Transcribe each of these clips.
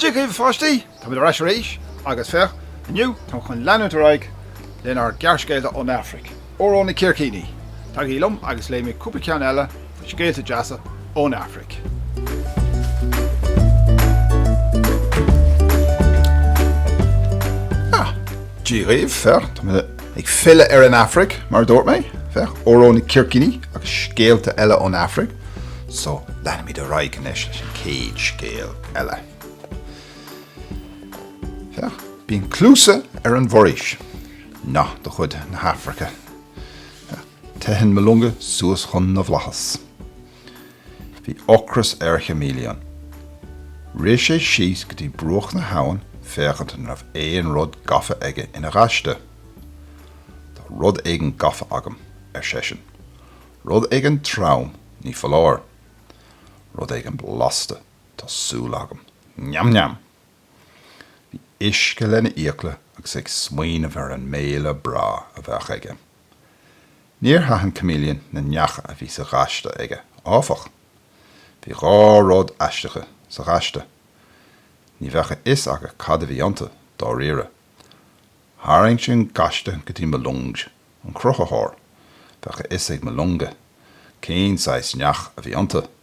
Dia dhaoibh a pháistí! Táimid ar ais arís agus féach, inniu táim chun leanúint ar aghaidh lenár gearrscéalta ón Afraic. Ó Ró na Círcíní, Tagaigí liom agus léifidh mé cúpla ceann eile de na scéalta deasa ón Afraic. Dia dhaoibh, féach, tá mé ag filleadh ar an Afraic, mar a dúirt mé, féach, Ó Ró na Círcíní agus scéalta eile ón Afraic. So, leanfaimid ar aghaidh anois leis an chéad scéal eile. Féach, bíonn cluasa ar an bhforaois. Nath de chuid na hAfraice. Teitheann Malunga suas chun na bhflaitheas. Bhí ocras ar Chameleon. Rith sé síos go dtí bruach na habhann féachaint an raibh aon rud gafa aige ina ghaiste. Tá rud éigin gafa agam, ar seisean. Rud éigin trom, ní foláir. Rud éigin blasta, tá súil agam. Neam neam! Bhí uisce lena fhiacla agus é ag smaoineamh ar an mbéile breá a bheadh aige. Níor aithin Chameleon na neacha a bhí sa ghaiste aige, áfach. Bhí dhá rud aisteacha sa ghaiste. Ní bheadh a fhios agat cad a bhí iontu, dáiríre. Tharraing sé an gaiste go dtí Malunga, an Cruthaitheoir. Bheadh a fhios ag Malunga cén saghas neach a bhí iontu.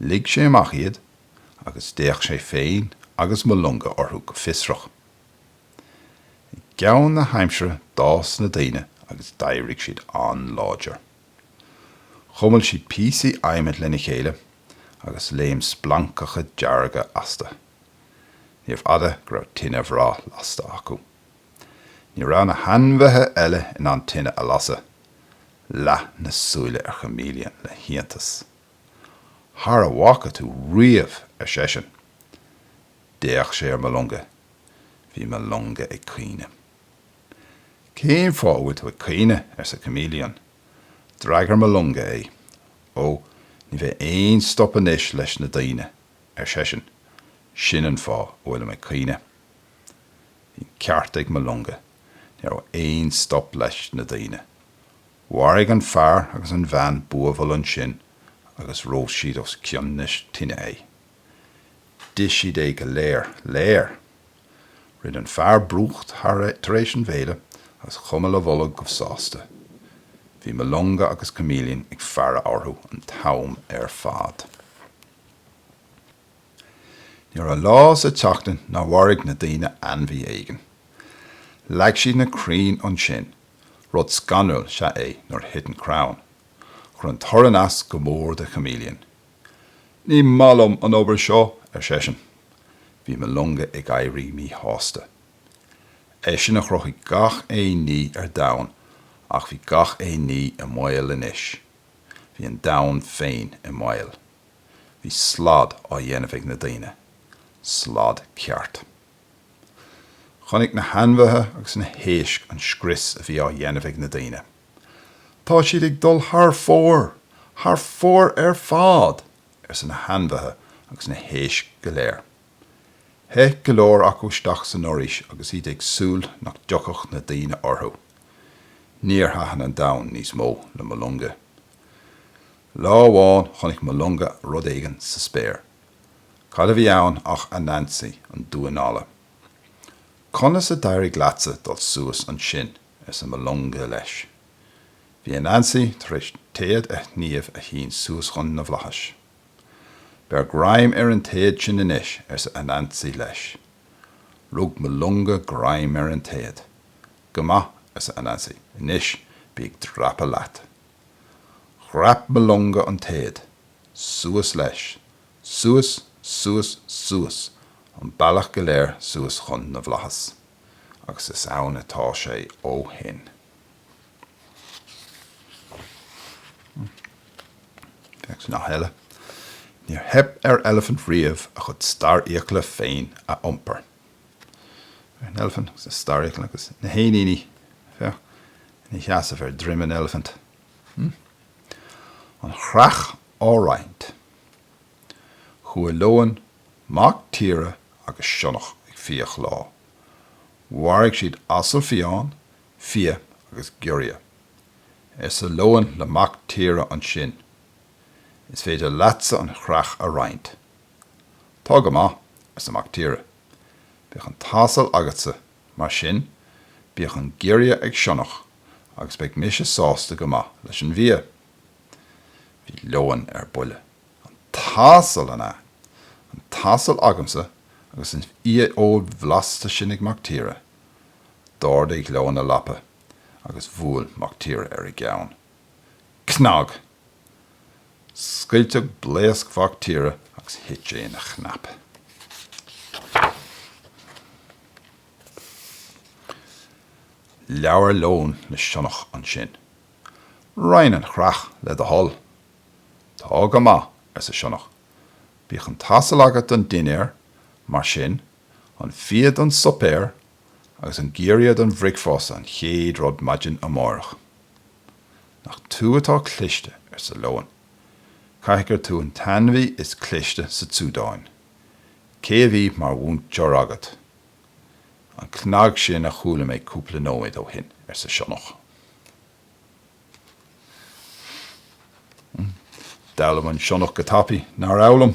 Lig sé amach iad agus d'fhéach sé féin agus Malunga orthu go fiosrach. I gceann na haimsire d'fhás na daoine agus d'éirigh siad an-láidir. Chuimil siad píosaí adhmaid lena chéile agus léim splancacha dearga astu. Níorbh fhada go raibh tine bhreá lasta acu. Ní raibh na hainmhithe eile in ann tine a lasadh, leath na súile ar Chameleon le hiontas. Thar a bhfaca tú riamh, ar seisean. D'fhéach sé ar Malunga. Bhí Malunga ag caoineadh. Cén fáth a bhfuil tú ag caoineadh? arsa Chameleon. D'fhreagair Malunga é. Ó, ní bheidh aon stop anois leis na daoine, ar seisean. Sin an fáth a bhfuilim ag caoineadh. Bhí an ceart ag Malunga, ní raibh aon stop leis na daoine. Mharaigh an fear agus an bhean buabhall ansin agus róst siad os cionn na tine é. D'ith siad é go léir léir! Rinn an fear brúcht tar éis an bhéile agus chuimil a bholg go sásta. Bhí Malunga agus Chameleon ag faire orthu an t-am ar fad. Ní raibh lá sa tseachtain nár mharaigh na daoine ainmhí éigin. Leag siad na crainn ansin, rud scanrúil is ea é nuair a thiteann crann, chuir an torann as go mór do Chameleon. Ní maith liom an obair seo! ar seisean. Bhí Mulungu ag éirí míshásta. Eisean a chruthaigh gach aon ní ar domhan ach bhí gach aon ní i mbaol anois. Bhí an domhan féin i mbaol. Bhí slad á dhéanamh ag na daoine. Slad ceart. Chonaic na hainmhithe agus na héisc an scrios a bhí á dhéanamh ag na daoine. Tá siad ag dul thar fóir! Thar fóir ar fad! arsa na hainmhithe agus na héisc go léir. Theith go leor acu isteach san fhoraois agus iad ag súil nach dtiocfadh na daoine orthu. Níor thaitin an domhan níos mó le Mulungu. Lá amháin chonaic Mulungu rud éigin sa spéir. Cad a bhí ann ach Anansi, an damhán alla. Conas a d'éirigh leatsa dul suas ansin? arsa Mulungu leis. Bhí Anansi tar éis téad a shníomh a shín suas chun na bhflaitheas. Beir greim ar an téad sin anois, arsa Anansi leis. Rug Mulungu greim ar an téad. Go maith, arsa Anansi, anois bí ag dreapadh leat. Dhreap Mulungu an téad. Suas leis. Suas, suas, suas, an bealach go léir suas chun na bhflaitheas. Agus is ann atá sé ó shin. Téacs nath eile. Níor theip ar eilifint riamh a chuid starrfhiacla féin a iompar. An Eilifint agus na Starrfhiacla agus na hÉiníní. Féach, ina sheasamh ar dhroim an eilifint. An chreach á roinnt. Chuaigh leon, mac tíre agus sionnach ag fiach lá. Mharaigh siad asal fiáin, fia agus giorria. Arsa leon le mac tíre ansin, Is féidir leatsa an chreach a roinnt. Tá go maith, arsa Mac Tíre. Bíodh an t-asal agatsa, mar sin, bíodh an giorria ag sionnach agus beidh mise sásta go maith leis an bhfia. Bhí leon ar buile. An t-asal, an ea? An t-asal agamsa agus an fhiafheoil bhlasta sin ag Mac Tíre! D'ardaigh leon a lapa agus bhuail Mac Tíre ar an gceann. Cnag! Scoilteadh blaosc mhac tíre agus thit sé ina chnap. Labhair Leon le Sionnach ansin. Roinn an chreach, le do thoil. Tá go maith, arsa sionnach. Bíodh an t-asal agat don dinnéar, mar sin, an fia don suipéar agus an giorria don bhricfásta an chéad rud maidin amárach. Nach tú atá cliste, arsa leon. Caithfidh gur tú an t-ainmhí is cliste sa tSúdáin. Cé a bhí mar mhúinteoir agat? An cnag sin a chuala mé cúpla nóiméad ó shin, arsa sionnach. D'fhoghlaim an sionnach go tapaidh, nár fhoghlaim?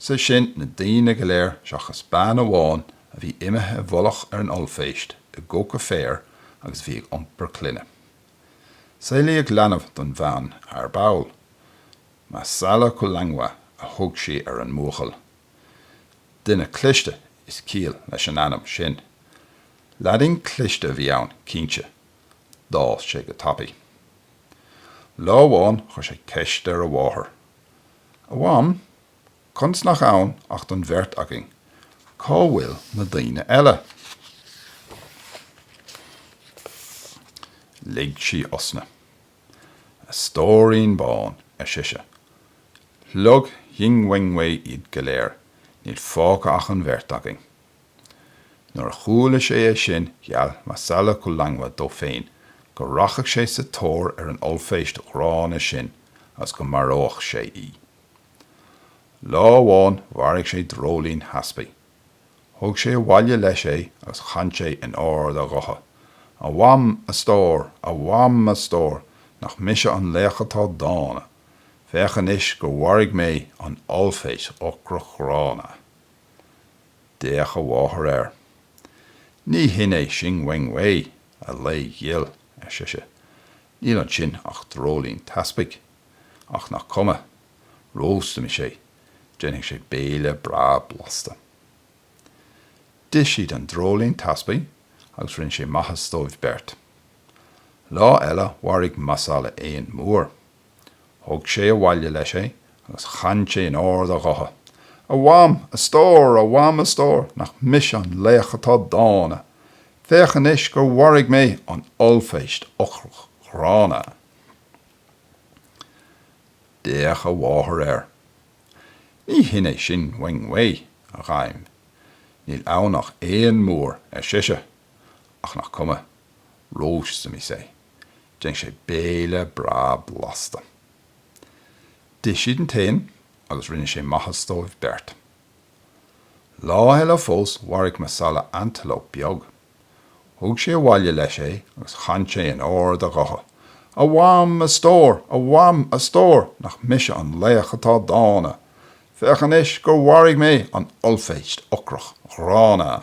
Sé sin, na daoine go léir seachas bean amháin a bhí imithe i bhfolach ar an ollphéist i gcoca féir agus a bhí ag iompar clainne. Saolaíodh leanbh don bhean ar ball. Masala Kulangwa a thug sí ar an mbuachaill. Duine cliste is ciall leis an ainm sin. Leaidín cliste a bhí ann, cinnte. D'fhás sé go tapaidh. Lá amháin chuir sé ceist ar a mháthair. A Mham, conas nach ann ach don bheirt againn? Cá bhfuil na daoine eile? Lig sí osna. A stóirín bán, ar sise. Shlog Shing Weng Wei iad go léir, níl fágtha ach an bheirt againn. Nuair a chuala sé é sin, gheall Masala Kulangwa dó féin go rachadh sé sa tóir ar an ollphéist ghránna sin is go maródh sé í. Lá amháin mharaigh sé dreoilín theaspaigh. Thug sé abhaile leis é agus chan sé in ard a ghutha, A Mham, a stór! A Mham, a stór! Nach mise an laoch atá dána! Féach anois gur mharaigh mé an ollphéist ocrach ghránna. D'fhéach a mháthair air. Ní hin í Shing Weng Wei, a lao ghil, ar sise. Níl ansin ach dreoilín teaspaigh. Ach nach cuma. Róstfaimis é. Déanfaidh sé béile breá blasta. D'ith siad an dreoilín teaspaigh agus rinne sé maitheas dóibh beirt. Lá eile mharaigh Masala éan mór. Thug sé abhaile leis é agus chan sé in ard a ghutha, A Mham, a stór, a Mham, a stór, nach mise an laoch atá dána! Féach anois gur mharaigh mé an ollphéist ocrach ghránna! D'fhéach a mháthair air. Ní hin é Shing Weng Wei, a dhaimh. Níl ann ach éan mór, ar sise. Ach nach cuma. Róstfaimis é. Déanfaidh sé béile breá blasta. D'ith siad an t-éan agus rinne sé maitheas dóibh beirt. Lá eile fós mharaigh Masala antalóp beag. Thug sé abhaile leis é agus chan sé in ard a ghutha, A Mham, a stór! A Mham, a stór! Nach mise an laoch atá dána! Féach anois gur mharaigh mé an ollphéist ocrach ghránna!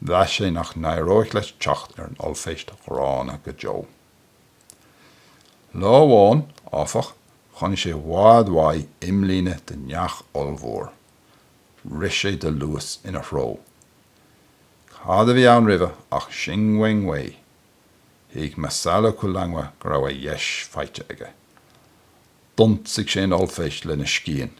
Mheas sé nach n-éireoidh leis teacht ar an ollphéist ghránna go deo. Lá amháin, áfach, chonaic sé i bhfad uaidh imlíne de neach ollmhór. Rith sé de luas ina threo. Cad a bhí ann roimhe ach Shing Weng Wei! Thuig Masala Kulangwa go raibh a dheis faighte aige. D'ionsaigh sé an ollphéist lena scian.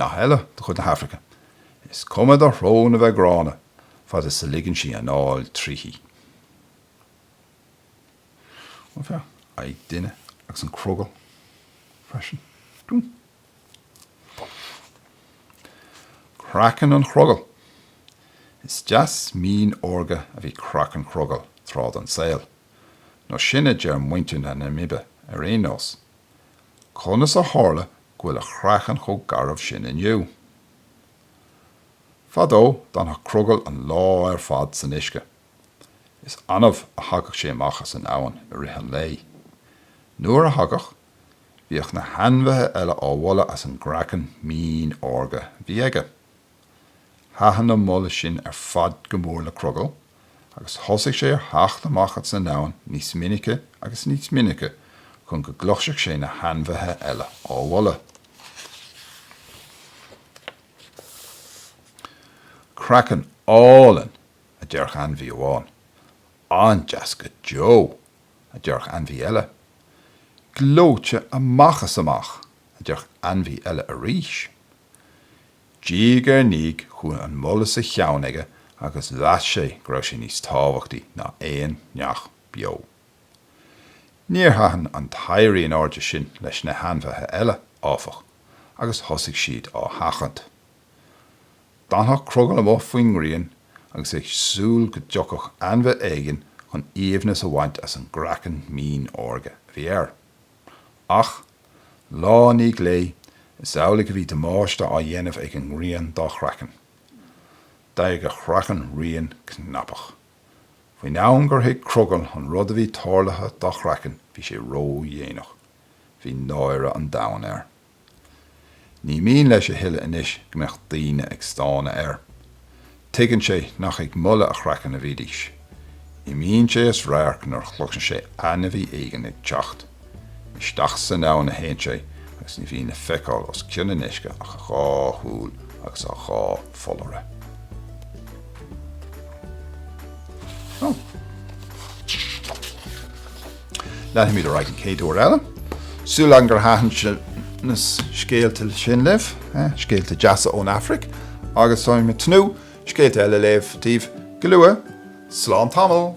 Nath eile de chuid na hAfraice, Is cuma do shrón a bheith gránna, fad is a ligeann sí anáil tríthi.. Faigheann duine agus an crogall freisin. Craiceann an chrogaill. Is deas mín órga a bhí craiceann an chrogaill tráth den saol, nó sin a deir muintir na Namaibe ar aon nós. Conas a tharla go bhfuil a chraiceann chomh garbh sin inniu? Fadó, d'fhanadh Crogall an lá ar fad san uisce. Is annamh a thagadh sé amach as an abhainn i rith an lae. Nuair a thagadh, Bhíodh na hainmhithe eile á mholadh as an gcraiceann mín órga a bhí aige. Thaitin an moladh sin ar fad go mór le Crogall agus thosaigh sé ar theacht amach as an abhainn níos minice agus níos minice chun go gcloisfeadh sé na hainmhithe eile á mholadh. Craiceann álainn! a deireadh ainmhí amháin, An-deas go deo! a deireadh ainmhí eile. Gleoite amach is amach! a deireadh ainmhí eile arís. Diaidh ar ndiaidh chuaigh an moladh sa cheann aige agus mheas sé go raibh sé níos tábhachtaí ná aon neach beo. Níor thaitin an t-éirí in airde sin leis na hainmhithe eile, áfach, agus thosaigh siad á sheachaint. D'fhanfadh Crogall amuigh faoin ngrian agus é ag súil go dtiocfadh ainmhí éigin chun aoibhneas a bhaint as an gcraiceann mín órga a bhí air. Ach, lá i ndiaidh lae, is amhlaidh a bhí damáiste á dhéanamh ag an ngrian dá chraiceann. D'éirigh a chraiceann righin cnapach. Faoin am gur thuig Crogall an rud a bhí tarlaithe dá chraiceann bhí sé ródhéanach. Bhí náire an domhain air. Ní mian leis a thuilleadh anois go mbeadh daoine ag stánadh air. Tuigeann sé nach ag moladh a chraicinn a bhídís. Imíonn sé as radharc nuair a chloiseann sé ainmhí éigin ag teacht. Isteach san abhainn a théann sé agus ní bhíonn le feiceáil os cionn an uisce ach a dhá shúil agus a dhá pholláire. Leanfaimid ar aghaidh an chéad uair eile. Súil agam gur thaitin na scéalta sin libh, scéalta deasa ón Afraic, agus táimid ag tnúth scéalta eile a léamh daoibh go luath. Slán tamall!